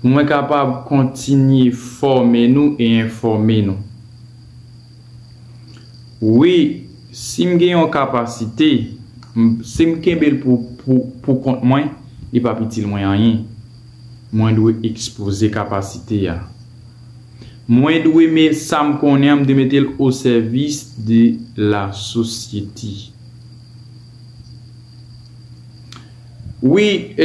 Pou mwen kapab kontinye fòme nou e enfòme nou. Wi, si m gen yon kapasite, m, si m kenbe l pou, pou, poukont mwen, li p ap itil mwen anyen. Mwen dwe ekspoze kapasite a. Mwen dwe me, sa m konnen an, m dwe mete l osèvis de lasosyete. Wi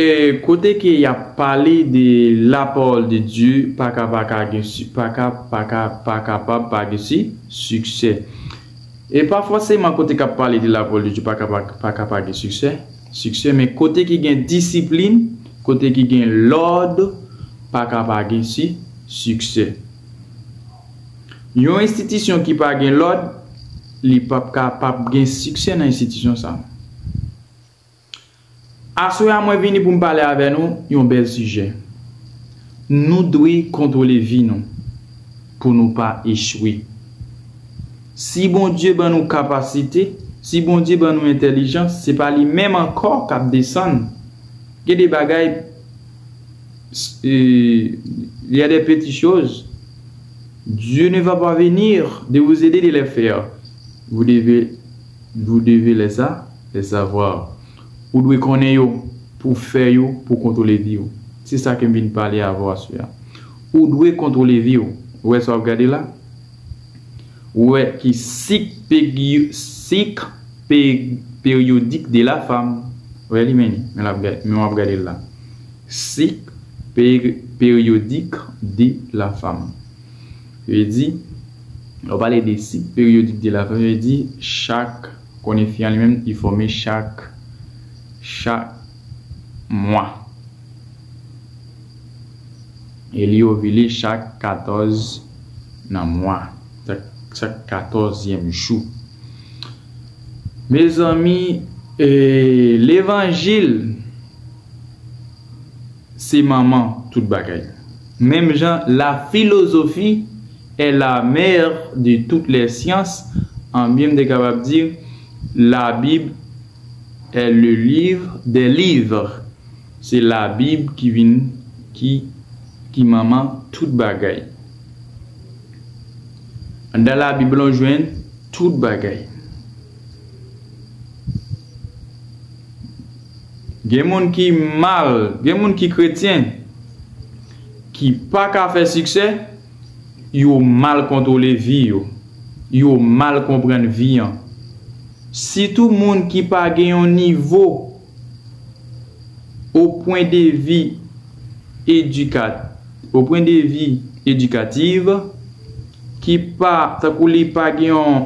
kote ke yap pale de la parole de Dieu paka paka gen paka paka pa kapab pa gen si siksè e pa fòseman kote kap pale de la parole de Dieu paka paka pa gen siksè siksè men kote ki gen disiplin kote ki gen lòd paka pa gen si siksè yon enstitisyon ki pa gen lòd li pap ka pap gen siksè nan enstitisyon sa. Aswè a mwen vini pou m pale avè nou yon bèl sijè. Nou dwe kontwole vi nou pou nou pa echwe. Si Bondye ban nou kapasite, si Bondye ban nou entèlijans, se pa li menm ankò k ap desann. Gen de bagay, il y a des petites choses, Dieu ne va pas venir de vous aider de les faire, vous devez Vous devez les sa, les savoir. Ou dwe konnen yo pou w fè yo pou w kontwole vi w. Se sa ke m vin pale avè w aswè a. Ou dwe kontwole vi w. Ou wè sa w ap gade la? Ou wè ki sik pegi, sik pe, peryodik de la fam. Ou wè li? Men li. Men l ap gade, men w ap gade l la. Sik pe, peryodik de la fam. Yo te di, lè w pale de sik peryodik de lafanm, yo te di chak, konnen fi an li menm li fòme chak, chak mwa. E li ovile chak 14 nan mwa, chak katòzyèm jou. Mezanmi, ee levanjil! Se manman tout bagay. Menm jan la philosophie est la mère de toutes les sciences, anbyen m te kapab di la Bible est le livre des livres. Se la Bible ki vin ki ki manman tout bagay. Anndan la Bible lan w jwenn tout bagay. Gen moun ki mal, gen moun ki kretyen ki pa ka fè siksè, yo mal kontwole vi yo, yo mal konprann vi an. Sitou moun ki pa gen yon nivo o pwen de vi edika, o pwen de vi edikativ, ki pa, tankou li pa gen yon.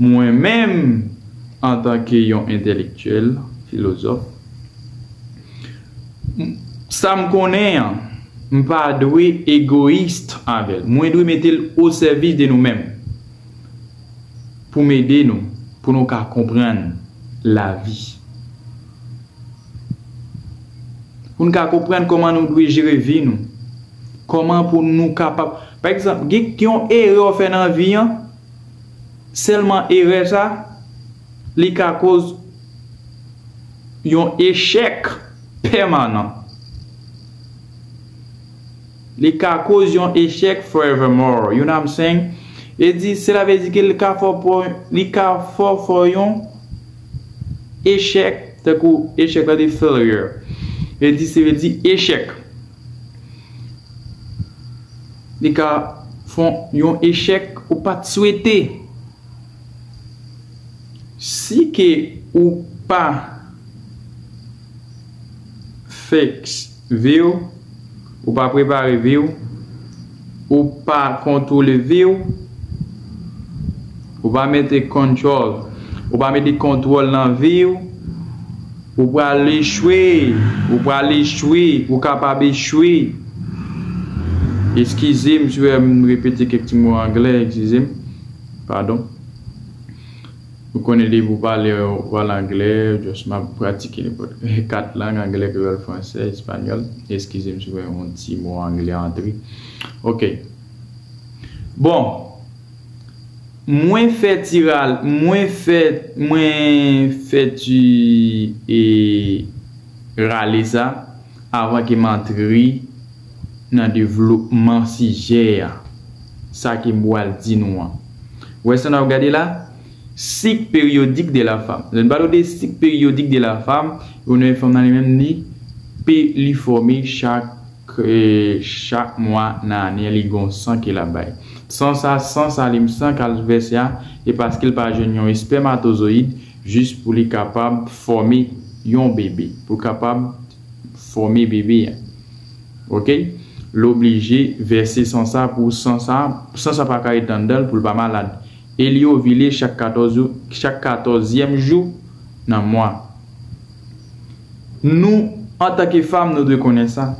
Mwen menm, antanke yon entèlektyèl, filozòf, m, sa m konnen an, m pa dwe egoyist avè l. Mwen dwe mete l osèvis de nou menm pou m ede nou pou nou ka konprann lavi, pou n ka konprann kòman nou dwe jere vi nou, kòman pou nou kapab, pa egzanp, gen yon erè w fè nan vi an, Sèlman erè sa, li ka koz yon echèk pèmanan. Li ka koz yon echèk forevermore, you know what I'm saying? E di, sela vle di ke li ka fè w, li ka fè w fè yon echèk, tankou echèk la di failure. E di, se vle di echèk. Li ka fon yon echèk ou pat swete. Si ke ou pa fix viw, ou pa prepare viw. Ou pa kontwole vi w. Ou pa mete control. Ou pa mete kontwòl nan vi w. Ou pral echwe. Ou pral echwe. Ou kapab echwe. Eskize m si w wè m repete kèk ti mo anglè, eskize m. Padon. Ou konnen depi ou pale yon pral anglè just map pratike nenpòt 4 lang anglè kreyòl fransè espanyòl eskizem si mwen yon ti mo anglè antre ok bon mwen fè ti ral mwen fè mwen fè ti e rale sa. Avan ke m antre nan devlopman sijè a, sa ke m pral di nou an. Wè sa n ap gade la? Sik peryodik de la fam. Lè n pale w de sik peryodik de la fam, ou wè fanm nan li menm li pe li fòme chak chak mwa nan ane a, li gen yon san ke l ap bay. San sa, san sa li m san k al vèse a, e paske l pa jwenn yon espèmatozoyid, Jis pou li kapab fòme yon bebe. Pou l kapab fòme bebe a. Ok. L oblije vèse san sa pou san sa, san sa pa ka ret anndan l pou l pa malad. E li ovile chak 14 jou, chak katòzyèm jou nan mwa. Nou, antanke fam, nou dwe konnen sa.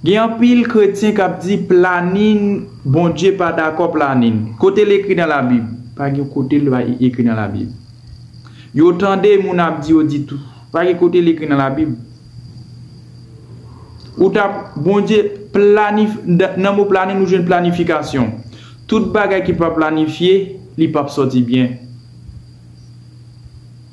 Gen anpil kretyen kap di planin Bondye pa dakò planin. Kote l ekri nan la bib? Pa gen yon kote l pa ekri nan la bib. Yo tande moun ap di yo di tou. Pa gen kote l ekri nan la bib. Ou tap Bondye planif nan mo planin ou jwenn planifikasyon. Tout bagay ki pa planifye li pap sòti byen.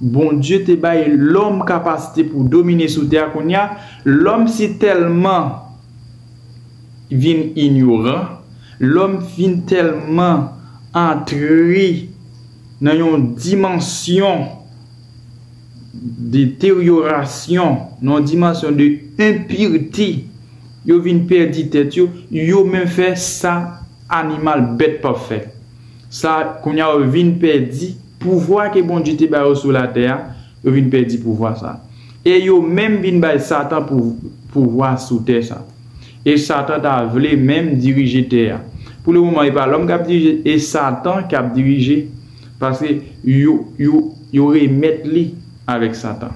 Bondye te bay lòm kapasite pou domine sou tè a kounye a, lòm si tèlman vin inyoran, lòm vin tèlman antre nan yon dimansyon de teryorasyon, nan yon dimansyon de enpirte, yo vin pèdi tèt yo, yo menm fè sa animal, bèt p ap fè. Sa kounye a yo vin pèdi. Pouvwa ke Bondye te ba yo sou latè a, yo vin pèdi pouvwa sa a. E yo menm vin bay Satan pouvwa sou tè sa a. E Satan ta vle menm dirije tè a. Pou le moman e pa lòm kap dirije, e Satan kap dirije, paske yo remèt li avèk Satan.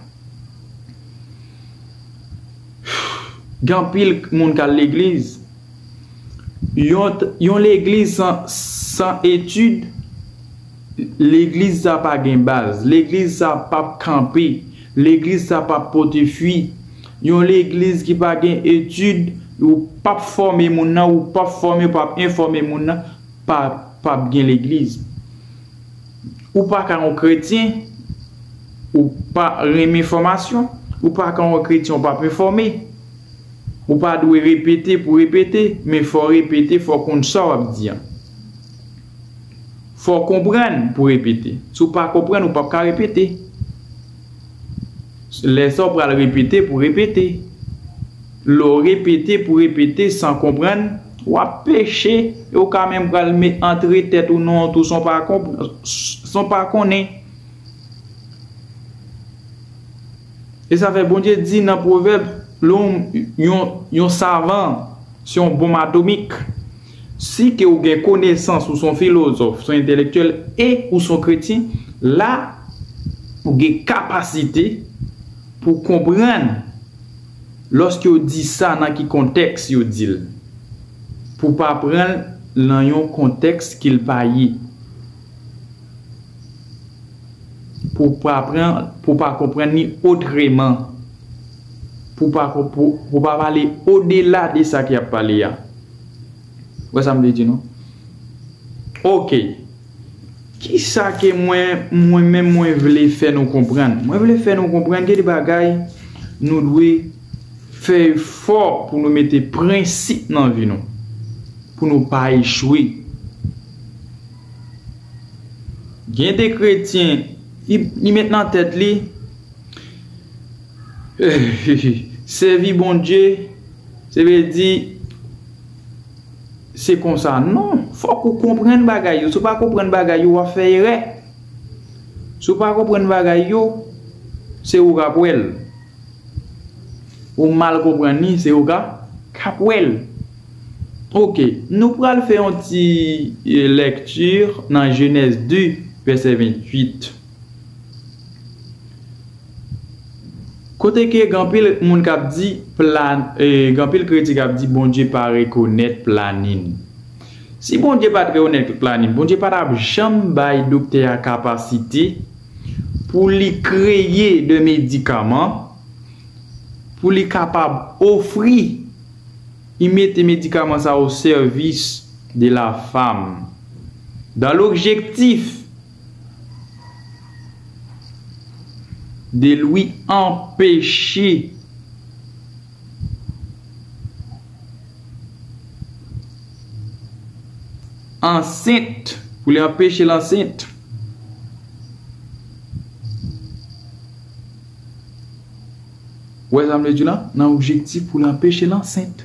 Gen anpil moun kal legliz, yon legliz san etid, Legliz sa pa gen baz. Legliz sa pap kanpe. Legliz sa pap pote fwi. Yon legliz ki pa gen etid, ou pap fòme moun nan, ou pap fòme, ou pap enfòme moun nan, pa pap gen legliz. Ou pa ka yon kretyen, ou pa renmen fòmasyon, ou pa ka yon kretyen ou pap enfòme. Ou pa dwe repete pou repete, men fò repete, fò konn sa wap di an. Fòw konprann pou repete. Si w pa konprann ou pap ka repete. Lè sa w pral repete pou repete. Lè w repete pou repete san konprann, wap peche e w ka menm pral met antre tèt ou nan yon tou san w pa konnen. E sa fè Bondye di nan pwovèb, Lòm yon savan se yon bonm atomik. Si ke ou gen konesans, ou son filozòf, son entelektyèl e ou son kretyen, la ou gen kapasite pou konprann lòske yo di sa nan ki kontèks yo di l. Pou pa pran l nan yon kontèks ke l pa ye. Pou pa pran, pou pa konprann li otreman. Pou pa pale odela de sa ke y ap pale a. Wè sa m vle di nou? Ok. Kisa ke mwen, mwen menm mwen vle fè nou konprann? Mwen vle fè nou konprann gen de bagay nou dwe fè efò pou nou mete prensip nan vi nou. Pou nou pa echwe. Gen de kretyen, li met nan tèt li, Sèvi Bondye. Se vle di se konsa non, fòk ou konprann bagay yo, si w pa konprann bagay yo wap fè erè, si w pa konprann bagay yo se ou kap wè l, ou mal konprann li se ou kap wè l. Ok nou pral fè yon ti lecture nan Genèse 2 verset 28. Kote ke gen anpil moun kap di plan gen anpil kretin kap di Bondye pa rekonèt planin. Si Bondye pat rekonèt planin Bondye pa tap janm bay doktè a kapasite pou li kreye de medikaman pou li kapab ofri y mete medikaman sa o sèvis de la fam dan lobjektif De Louis anpeche ansent pou li anpeche l ansent. Ou wè sa m vle di la? Nan objektif pou li anpeche l ansent.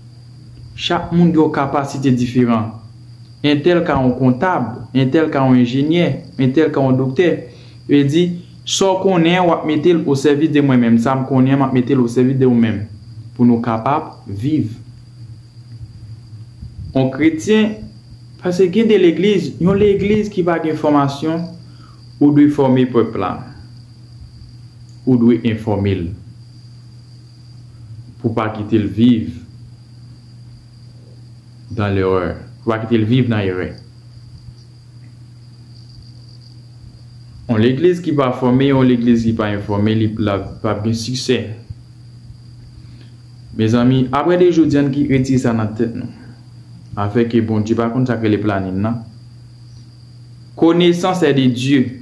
Chak moun gen yon kapasite diferan. Entèl ka yon kontab, entèl ka yon enjenyè, entèl ka yon doktè. Yo te di, sa w konnen an w ap mete l osèvis de mwen menm, sa m konnen an m ap mete l osèvis de ou menm, pou nou kapab viv. Yon kretyen, paske gen de legliz, yon legliz ki pa gen fòmasyon, ou dwe fòme pèp la. Ou dwe enfòme l. pou pa kite l viv dan lerè, pou pa kite l viv nan erè. Yon legliz ki pa fòme, yon legliz ki pa enfòme, li pap gen siksè. Mezanmi, apre de jodi an ki retire sa nan tèt nou. Afè ke Bondye pa konn sak rele planin nan. Konesans è de Dye.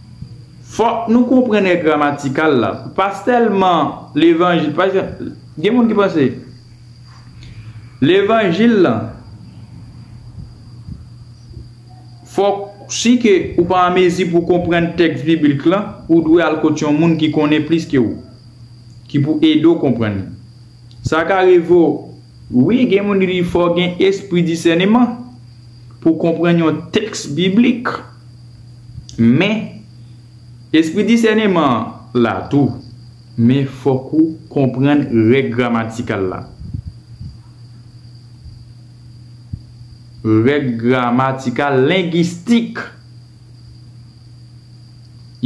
Fòk nou konprann è gramatikal la. Pa sèlman levanjil. Pa egzanp, gen moun ki panse levanjil lan fòk si ke ou pa anmezi pou w konprann tèks biblik lan, ou dwe al kot yon moun ki konnen plis ke ou, ki pou ede w konprann li. Sa ka rive w. Wi, gen moun ki di fò w gen espri disèneman pou w konprann yon tèks biblik. Men, espri disèneman an la tou. Men fòk ou konprann règ gramatikal la. Règ gramatikal lengistik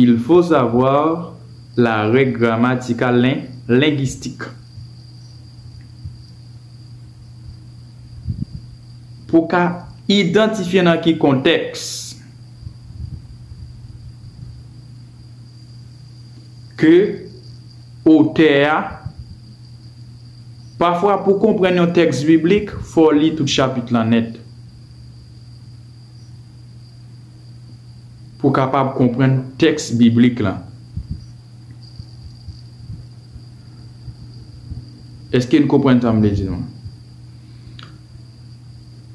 Il faut savoir la règle grammaticale linguistique. Pou ka idantifye nan ki kontèks ke otè a Pafwa pou konprann yon tèks biblik, fò w li tout chapit lan nèt pou w kapab konprann tèks biblik lan. Eske n konprann sa m vle di nou an?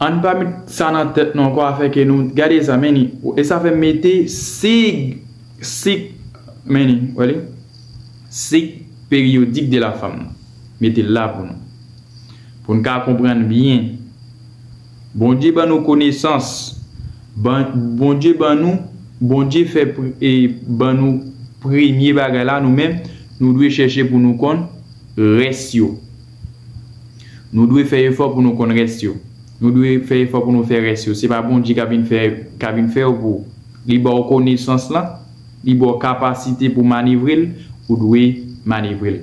Ann pa met sa nan tèt nou ankò afè ke nou, gade sa men ni, e sa fè m mete sig, sik, men ni, wè li? Sik peryodik de la fanm nan. Mete l la pou nou. Pou n ka konprann byen. Bondye ban nou konesans ban Bondye ban nou Bondye fè pr e ban nou premye bagay la nou menm nou dwe chèche pou nou konn rès yo nou dwe fè efò pou nou konn rès yo nou dwe fè efò pou nou fè rès yo se pa Bondye ka vin fè ka vin fè yo pou li ba w konesans lan li ba w kapasite pou w manevre l ou dwe manevre l.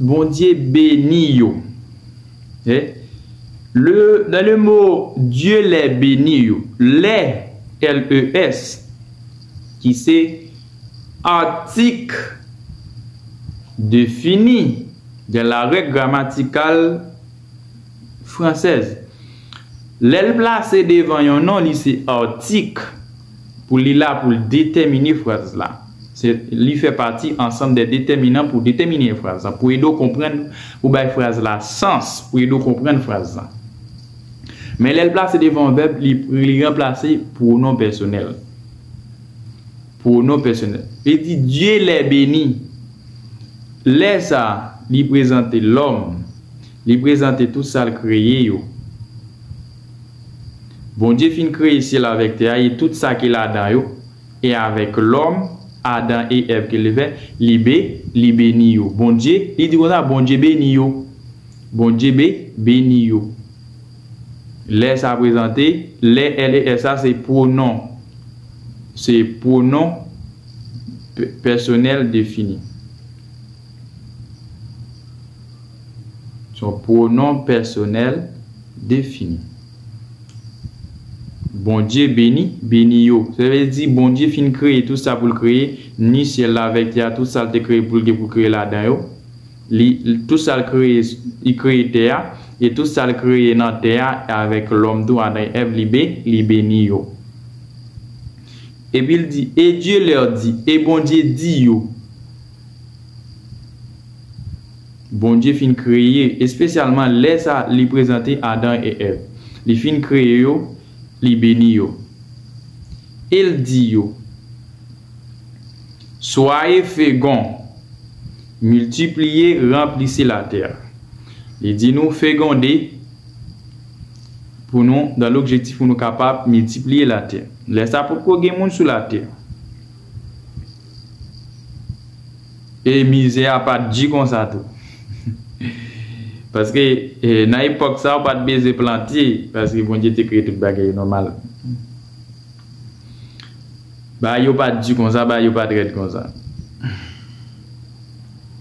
Bondye beni yo e le dans le mot Dieu les beni yo lè LES ki se atik defini dans la règ gramatikal fransèz lè l plase devan yon non li se atik. Pou li la pou l detèmine fraz la. Se Li fè pati ansanm dè detèminan pou detèmine fraz la, pou ede w konprann, pou bay fraz la sans, pou ede w konprann fraz la. Men lè l plase devan vèb, li li ranplase pwonon pèsonèl. Pwonon pèsonèl. Li di, Dye lè beni. Lè sa a, li prezante lòm. Li prezante tout sa l kreye yo. Bondye fin kreye syèl avèk tè a e tout sa ki ladan yo, e avèk lòm, Adan e Èv ke li fè, li be, li beni yo. Bondye, li di konsa, Bondye beni yo. Bondye be, beni yo. Lè sa prezante, lè, l e s sa, se pwonon, se pwonon pe, pèsonèl defini. Se yon pwonon pèsonèl. Defini. Bondye beni, beni yo. Sa vle di, Bondye fin kreye tout sa pou l kreye, ni syèl la avèk tè a, tout sa l te kreye pou l gen pou l kreye ladan yo. Li, tout sa l kreye, li kreye tè a, e tout sa l kreye nan tè a, avèk lòm tou, Adan e Èv, li be, li beni yo. Epi l di, Et Dieu leur dit, e Bondye di yo. Bondye fin kreye, espesyalman lè sa li prezante Adan e Èv. Li fin kreye yo, li beni yo. E l di yo, Swaye fegon, miltipliye, ranplise latè a. Li di nou fegonde pou nou, dan lobjektif pou nou kapab miltipliye latè. Lè sa potko gen moun sou latè. E mizè a pa t di konsa tou. Paske, nan epòk sa a, ou pa t bezwen plante, paske Bondye te kreye tout bagay yo nòmal. Bagay yo pa t di konsa, bagay yo pa t rèd konsa.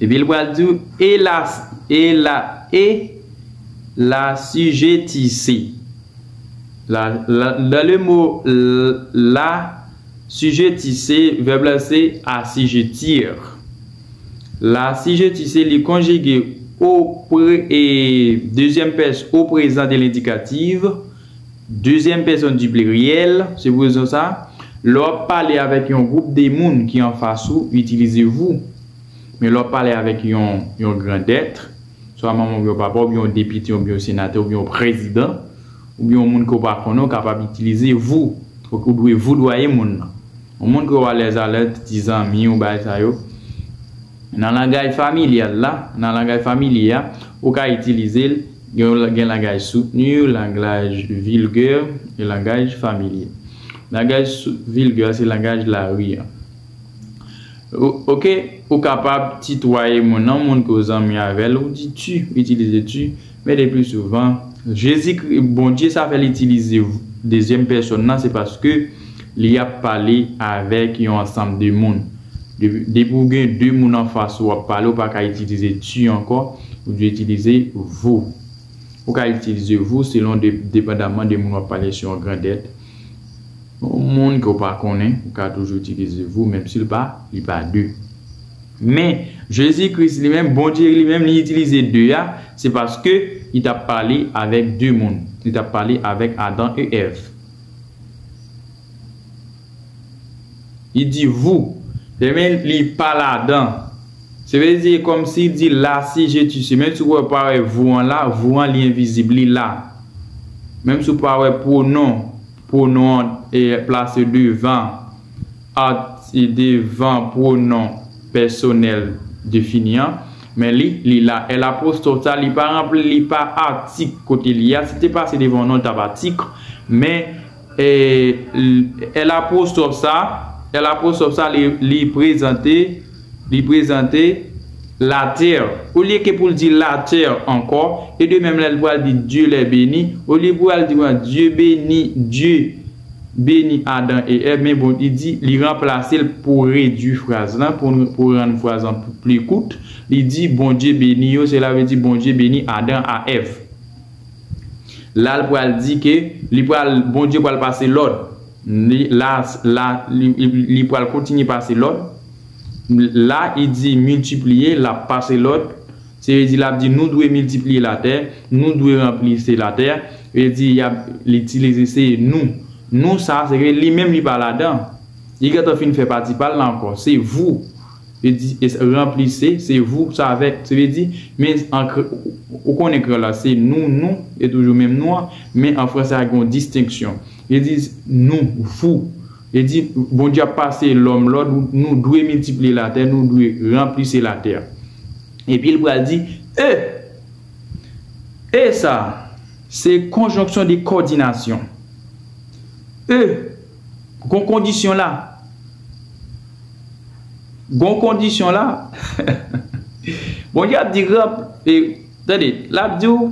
Epi l pral di w, e la, e la, e la sijetise. La, la, dan le mo la. Assujetti se, vèb la se assujettir. L'assujetti se li konjige o pre e dezyèm pès o prezan de lendikativ, dezyèm pèsòn di pliryèl, se pou rezon sa, lè w ap pale avèk yon gwoup de moun ki anfas ou, itilize vous. Men lè w ap pale avèk yon yon grandèt, swa manman oubyen papa w oubyen yon depite oubyen yon senatè oubyen yon prezidan, oubyen yon moun ke w pa konnen w kapab itilize vou ok ou dwe voudwaye moun nan yon moun ke w alèz alèz piti zanmi w bagay sa yo nan langaj familyal la nan langaj familye a ou ka itilize l gen langaj soutni langlaj vilgè e langaj familye langaj vilgè se langaj lari an ok ou kapab titwaye moun nan moun ke w zanmi avè l ou di tu ou itilize tu. Men le pli souvan, Jezikri, Bondye sa fè l itilize v dezyèm pèsòn nan se paske li ap pale avèk yon ansanm de moun. Depi depi ou gen de moun anfas ou ap pale ou pa ka itilize tu ankò, ou dwe itilize vous. Ou ka itilize vous selon de depandaman de moun w ap pale si yon grandèt, yon moun ke w pa konnen ou ka toujou itilize vous menm si l pa li pa de. Men, Jezi Kris li menm, Bondye li menm, li itilize de a, se paske li t ap pale avèk de moun. Li t ap pale avèk Adan e Èv. Li di vou, lè men li pa ladan. Se vle di e kòmsi li di la si je tu si. Menm si ou pa wè vou an la, vou an li envizib, li la. Menm si ou pa wè pwonon. Pwonon an plase devan arti devan pwonon pèsonèl defini an. Men li, li la. L apwostòf sa, li pa ranpl, li pa atik kote li a. Si l te pase devan non, l t ap atik. Men, l apwostòf sa, l apwostòf sa li prezante. Li prezante, La terre, olye ke pou l di la terre ankò, e de menm lè l pral di Dieu les beni, olye pou al di w an Dye beni, Dye beni Adan e Èv, men bon li di, li ranplase l pou redui fraz lan, pou rann fraz lan pli kout, li di, Bondye beni yo, sela vle di Bondye beni Adan a Èv. La l pral di ke li pral, Bondye pral pase lòd, li la, li pral kontinye pase lòd, La i di miltipliye, lap pase lòd, se vle di lap di nou dwe miltipliye latè, nou dwe ranpli se latè, vle di yap li tilize se nou. Nou sa se vle li menm li pa ladan. Li gentan fin fè pati pal la ankò. Se vou, vle di ranpli se, se vou sa vek, se vle di men an kre ou konnen kreyòl la se nou, nou e toujou menm nou an, men an franse a gen yon distenksyon. Vle di nou, vou. Li di, Bondye ap pase lòm lòd, Nou dwe miltipliye latè, nou dwe ranplise latè. Epi l pral di, E! E sa a, se konjonksyon de kòdinasyon. E! Gon kondisyon la. Gon kondisyon la. Bondye ap di, Ranp, e, tande, l ap di w,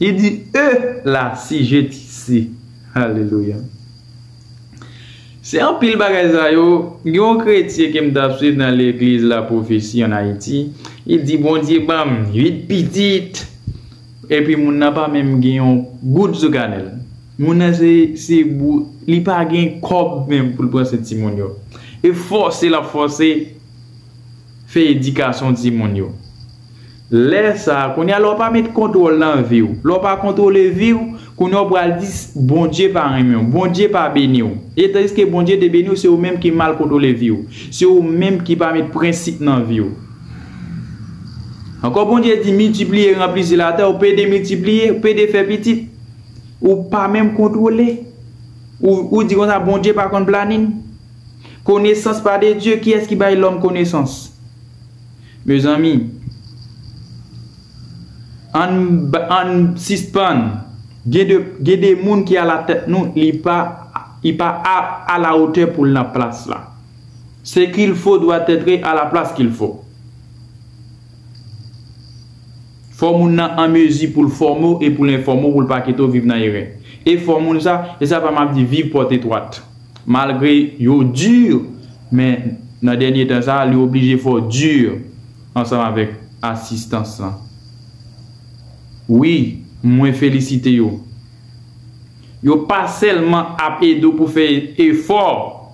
Li di E la si je ti si. Alelouya. Se anpil bagay sa yo, gen yon kretye ke m t ap swiv nan legliz la pwofesi an Ayiti, li di Bondye ban m 8 pitit! Epi moun nan pa menm gen yon goud sou kanè l. Moun nan se se bou li pa gen kòb menm pou l pran swen timoun yo. E fòse l ap fòse fè edikasyon timoun yo. Lè sa, kounye a lè w pa met kontwòl nan vi w, lè w pa kontwole vi w, kounye a w pral di Bondye pa renmen w, Bondye pa beni w. E tandiske Bondye te beni w, se ou menm ki mal kontwole vi w. Se ou menm ki pa met prensip nan vi w. Ankò Bondye di miltipliye, ranplisi latè, ou pede miltipliye, ou pede fè pitit. Ou pa menm kontwole. Ou di konsa Bondye pa konn planin. Konesans pa de Dye, kiyès ki bay lòm konesans? Mezanmi Ann sispann Gen de moun ki ala tèt nou li pa Li pa a la otè pou l nan plas la Ce qu'il faut doit être à la place qu'il faut. Fò moun nan an mezi pou l fòme w e pou l enfòme w pou l pa kite w viv nan erè. E fò moun sa, e sa pa m ap di viv pòt etwat. Malgre yo dur, men nan dènye tan sa a li oblije fò dur ansanm avèk asistans lan. Wi, mwen felisite yo. Yo pa sèlman ap ede w pou fè efò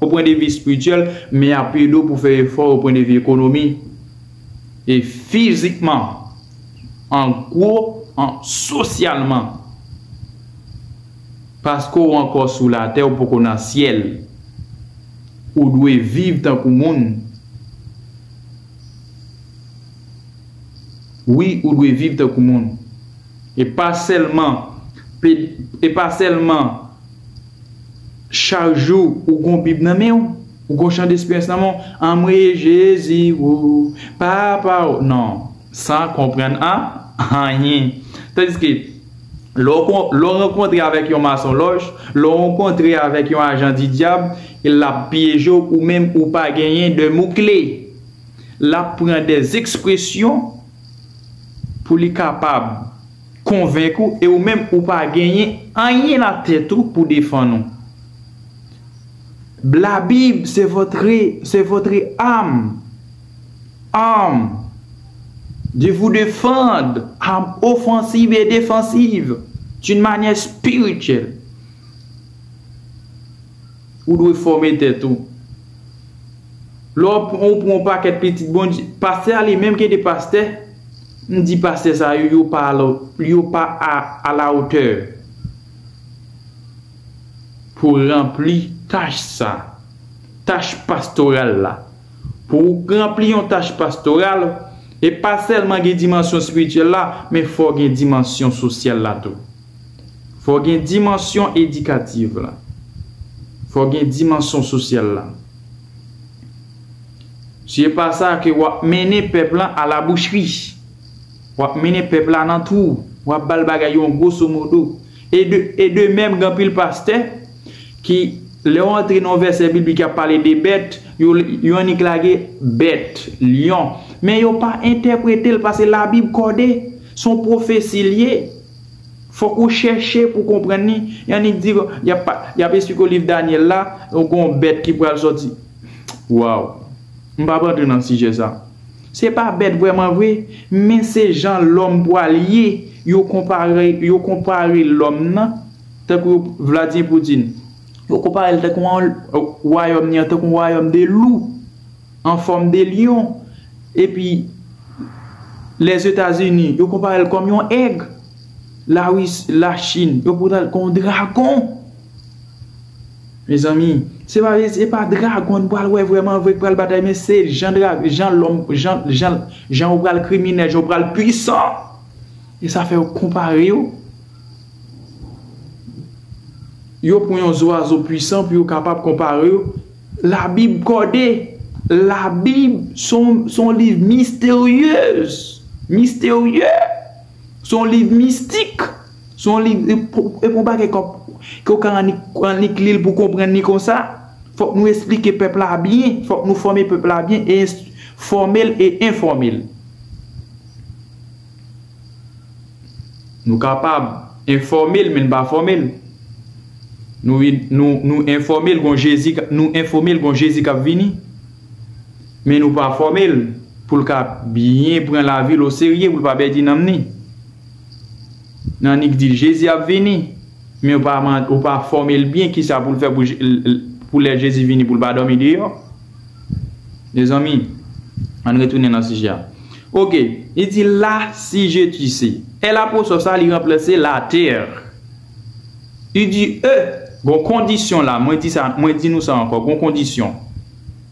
o pwendevi espirityèl, men y ap ede w pou fè efò o pwendevi ekonomi. E fizikman. An gwo, an sosyalman. Paske w ankò sou latè, ou poko nan syèl. Ou dwe viv tankou moun. Wi, ou dwe viv tankou moun. E pa sèlman, e pa sèlman chak jou ou gen yon bib nan men w. Ou gon chan despyès nan menw anmweyy jezi woo papa oo nan san konprann an anyen tandiske lè w kon lè w rankontre avèk yon masonlòj lè w rankontre avèk yon ajan di dyab lap pyeje w ou menm ou pa genyen de mo kle lap pran de ekspresyon pou li kapab konvenk ou e ou menm ou pa genyen anyen nan tèt ou pou defann ou. La Bible c'est votre c'est votre âme arm de vous defand arm offensive et defensive d'une manière spirituelle ou dwe fòme tèt ou lè ou pran yon pakèt pitit Bondye pastè a li menm gen de pastè m di pastè sa yo yo pa a la otè pou ranpli tach sa, tach pastoral la. Pou ou ranpli yon tach pastoral, e pa sèlman gen dimansyon espirityèl la, men fò gen dimansyon sosyal la tou. Fò gen dimansyon edikativ la. Fò gen dimansyon sosyal la. Si e pa sa ke w ap mennen pèp lan a la bouchri. W ap mennen pèp la nan twou. W ap ba l bagay yon gwosomodo. E de mèm gen anpil pastè ki lè yo antre nan yon vèsè biblik y ap pale de bèt, yo annik lage bèt, lyon, men yo pa entèprete l pase labib kòde, se yon pwofesi l ye. Fòk ou chèche pou w konprann li. Y annik di w, y ap esplike w liv Dànyèl la, gen yon bèt ki pral sòti. Waw! M pap antre nan sijè sa. Se pa bèt vrèman vre, men se jan lòm pwal ye, yo konpare yo konpare lòm nan tankou yo Vladyen Poutine. Yo konpare l tankou yon wayòm ni an tankou yon wayòm de lou an fòm de lyon epi Lèzetazini yo konpare l kòm yon èg, Lawis Lachin yo konpare l kòm yon dragon. Mezanmi se pa se pa dragon n pral wè vrèman vre k pral batay men se jan dra jan lòm jan jan jan yo pral kriminèl jan yo pral pwisan e sa fè yo konpare yo yo pran yon zwazo pwisan pou yo kapab konpare yo labib kòde labib se yon se yon liv misteryez misterye se yon liv mistik. Se yon liv e pou yon bagay ke w ka annik li l pou w konprann li konsa, fòk nou esplike pèp la byen, fòk nou fòme pèp la byen, fòme l e enfòme l. Nou kapab enfòme l men n pa fòme l. Nou enfòme l gon Jezi, nou enfòme l gon Jezi k ap vini, men nou pa fòme l pou l ka byen pran lavi l oserye, pou l pa pèdi nanm ni. Nannik di l, Jezi ap vini, men ou pa fòme l byen kisa pou l fè pou lè Jezi vini pou l pa dòmi deyò. Mezanmi, ann retounen nan sijè a. Oke, li di la si je tu se. È laposò sa li ranplase la tè. U di e, gon kondisyon la, mwen di nou sa ankò, gon kondisyon.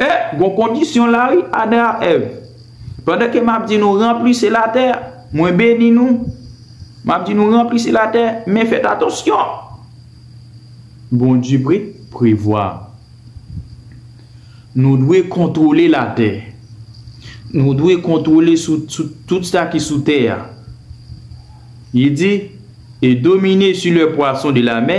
E, gon kondisyon la wi, Adan ak Èv. Pandan ke m ap di nou, Ranplise latè, mwen beni nou. M ap di nou, Ranplise latè, men fèt atansyon! Bondye pre, prevwa. Nou dwe kontwole latè. Nou dwe kontwole sou, sou tout sa ki sou tè a. Li di, E domine su lè pwason de lamè.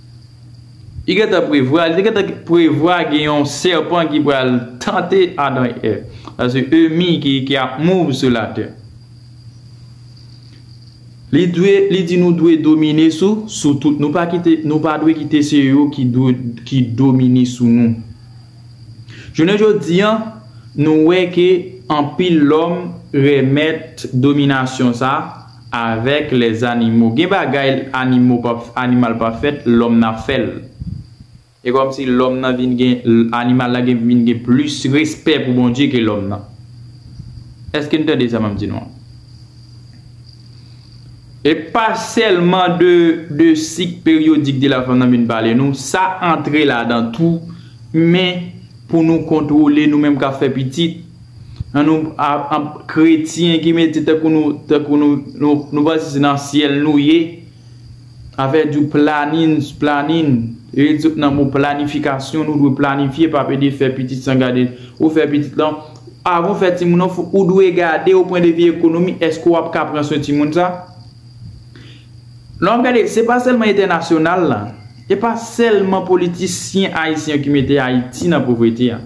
Li gentan prevwa, li te gentan prevwa gen yon sèpan ki pral tante Adan e Èv. Sa se emi ki ap move sou latè. Li dwe, li di nou dwe domine sou, sou tout. Nou pa kite, nou pa dwe kite se yo ki dwe, ki domine sou nou. Jounen jodi an, nou wè ke anpil lòm remèt dominasyon sa. Avek les animaux gen bagay animaux pa animal pa fèt lòm nan fèl e kòm si lòm nan vin gen animal la gen vin gen plis respè pou Bondye ke lòm nan eske nou tande sa map di nou an e pa sèlman de de sik peryodik de la fanm nan vin pale nou sa antre ladan tou men pou nou kontwole nou menm kap fè pitit. An nou ap kretyen ki mete tèt pou nou tèt pou nou nou panse se nan syèl nou ye afè di w planin planin e tout nan mo planifikasyon nou dwe planifye pa pede fè pitit san gade ou fè pitit lan avan w fè timoun nan fòk ou dwe gade o pwen de vi ekonomi èske w ap ka pran swen timoun sa lè w ap gade se pa sèlman entènasyonal la e pa sèlman politisyen ayisyen ki mete ayiti nan povrete a.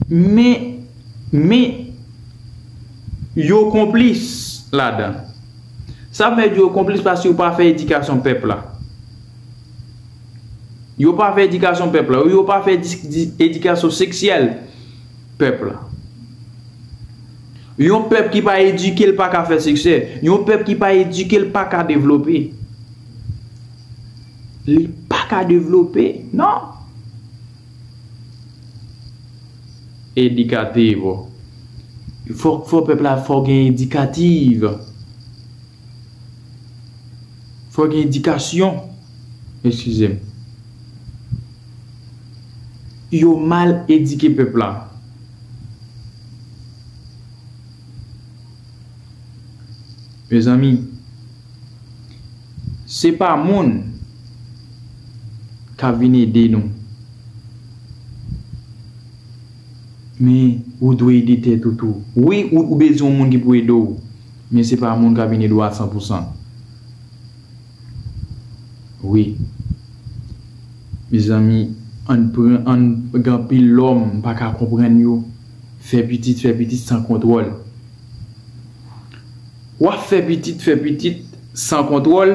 Men, men, yo konplis ladan. Sa m vle di yo konplis paske yo pa fè edikasyon pèp la. Yo pa fè edikasyon pèp la. Yo pa fè edikasyon seksyèl pèp la. Yon pèp ki pa edike l pa ka fè siksè. Yon pèp ki pa edike l pa ka devlope. Li pa ka devlope, non. Educativo Fòk fò pèp la fò gen edikativ Fò gen edikasyon Eskize m Yo mal edike pèp la Mezanmi. Se pa moun kap vin ede nou men ou dwe ede tèt ou tou wi ou bezwen yon moun ki pou ede w men se pa moun kap vin ede w a san pou san wi mezanmi ann pran ann gen anpil lòm m paka konprann yo fè pitit fè pitit san kontwòl. Wap fè pitit fè pitit san kontwòl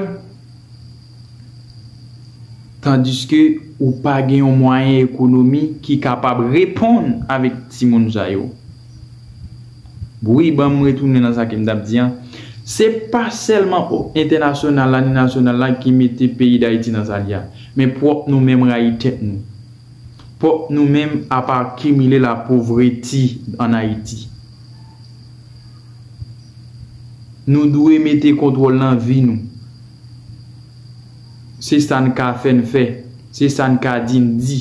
tandiske ou pa gen yon mwayen ekonomi ki kapab reponn avèk timoun sa yo. Wi banm retounen nan sa kem tap di an, se pa sèlman entènasyonal la ni nasyonal la ki mete peyi Dayiti nan sa li a, men pwòp nou menm rayi tèt nou. Pwòp nou menm ap akimile lapovreti an Ayiti. Nou dwe mete kontwòl nan vi nou. Se sa n ka fè n fè. Se sa n ka di n di.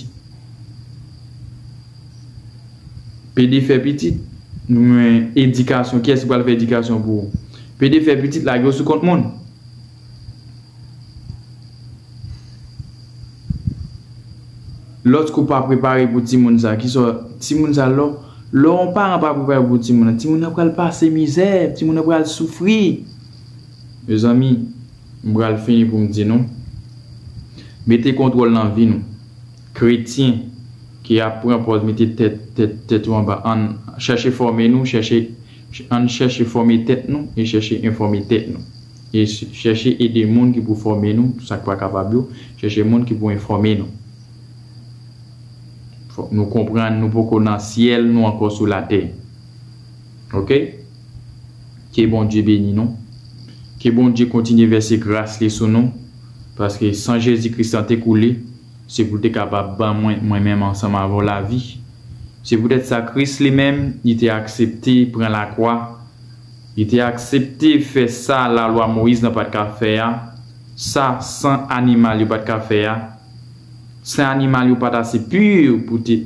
Pede fè pitit. Men edikasyon. Kiyès ki pral fè edikasyon pou ou? Pede fè pitit, lage yo sou kont moun. Lòt kou pa prepare pou timoun sa, ki sa timoun sa lò, lò yon paran pa prepare pou timoun nan, timoun nan pral pase mizè, timoun nan pral soufri. Mezanmi, m pral fini pou m di nou, mete kontwòl nan vi nou. Kretyen ki ap pran pòz mete tèt, tèt, tèt ou anba, ann chèche fòme nou, chèche, ann chèche fòme tèt nou e chèche enfòme tèt nou. Chèche ede moun ki pou fòme nou, sa k pa kapab yo, chèche moun ki pou enfòme nou. Fòk nou konprann nou poko nan syèl nou ankò sou latè. Ok. Ke Bondye beni nou. Ke Bondye kontinye vèse gras li sou nou, paske san Jezi Kris lan te koule, se pou l te kapab ban mwen, mwen menm ansanm avè w lavi. Se poutèt sa Kris li menm, li te aksepte pran lakwa Li te aksepte fè sa lalwa Moyiz nan pa t ka fè a, sa san animal yo pa t ka fè a. San animal yo pa t ase pu pou te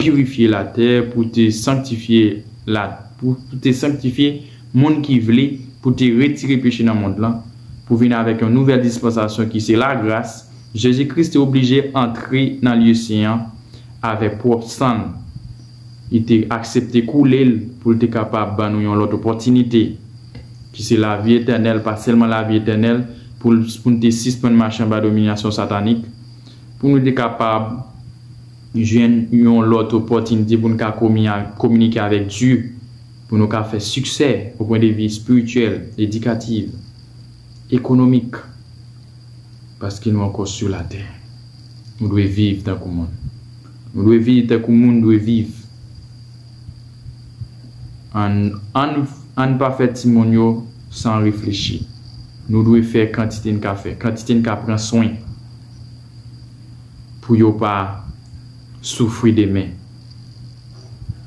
pirifye latè, pou te sanktifye la, pou te sanktifye moun ki vle, pou te retire peche nan mond lan, pou vin avèk yon nouvèl dispansasyon ki se lagras, Jezi Kris te oblije antre nan lye sen an avèk pwòp san l. Li te aksepte koule l pou l te kapab ban nou yon lòt opòtinite, ki se lavi etènèl, pa sèlman lavi etènèl, pou l pou n te sispann mache anba dominasyon satanik, pou nou te kapab jwenn yon lòt opòtinite pou n ka kominike avèk Dye, pou nou ka fè siksè o pwen de vi espirityèl, edikatif, ekonomik, paske nou ankò sou latè. Nou dwe viv tankou moun. Nou dwe viv tankou moun dwe viv. An ann pa fè timoun yo san reflechi. Nou dwe fè kantite n ka fè, kantite n ka pran swen pou yo pa soufri demen.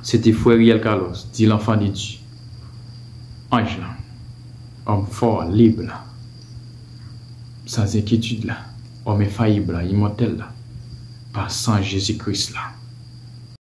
Se te frè Riel Carlos, dit l'enfant de Dieu, anj lan, òm fò, lib la. San enkyetid la, òm enfayib la, imòtèl la, pa san Jezi Kris la.